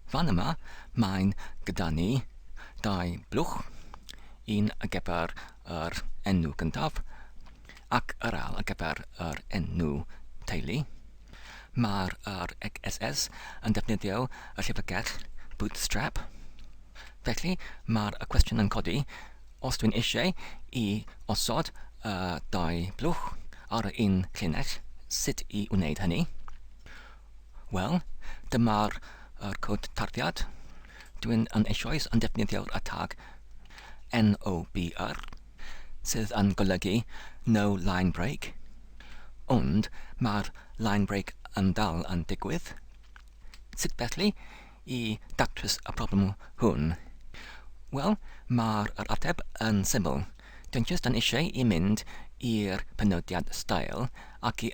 Fan yma, mae'n gyda ni dau blwch, un ar gyfer yr enw gyntaf ac yr ail ar gyfer yr enw teulu. Mae'r yr XSS yn defnyddio y llyfrgell Bootstrap. Felly, mae'r y cwestiwn yn codi, os dwi'n eisiau i osod y dau blwch ar yr un llinell, sut i wneud hynny? Wel, dyma'r yr cod tarddiad. Dwi'n yn eisoes yn defnyddio'r y tag NOBR, sydd yn golygu No Line Break, ond mae'r line break yn dal yn digwydd. Sut felly i datrys y problem hwn? Wel, mae'r yr ateb yn syml. Dwi'n just yn eisiau i mynd i'r penodiad style ac i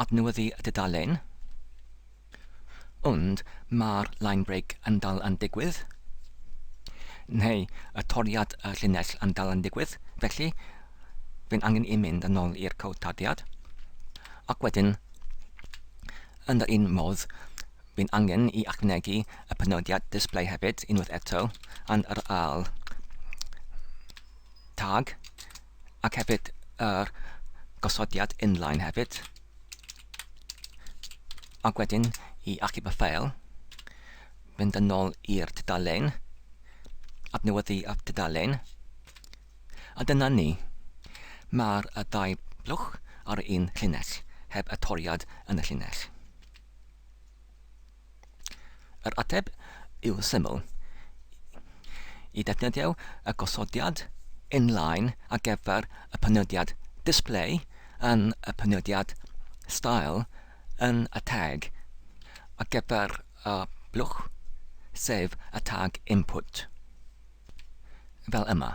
Adnewyddu y dudalen. Ond mae'r line break yn dal yn digwydd. Neu y toriad y llinell yn dal yn digwydd, felly fe'n angen i mynd yn ôl i'r cod tadiad. Ac wedyn, yn yr un modd, fe'n angen i ychwanegu y penodiad display hefyd, unwaith eto, yn yr ail tag, ac hefyd yr gosodiad inline hefyd ac wedyn i achub y ffeil mynd yn ôl i'r tudalen adnewyddu y tudalen a dyna ni mae'r y ddau blwch ar un llinell heb y toriad yn y llinell Yr ateb yw syml. I ddefnyddio y gosodiad inline ar gyfer y penodiad display yn y penodiad style yn y tag ar gyfer y blwch, sef y tag input, fel yma.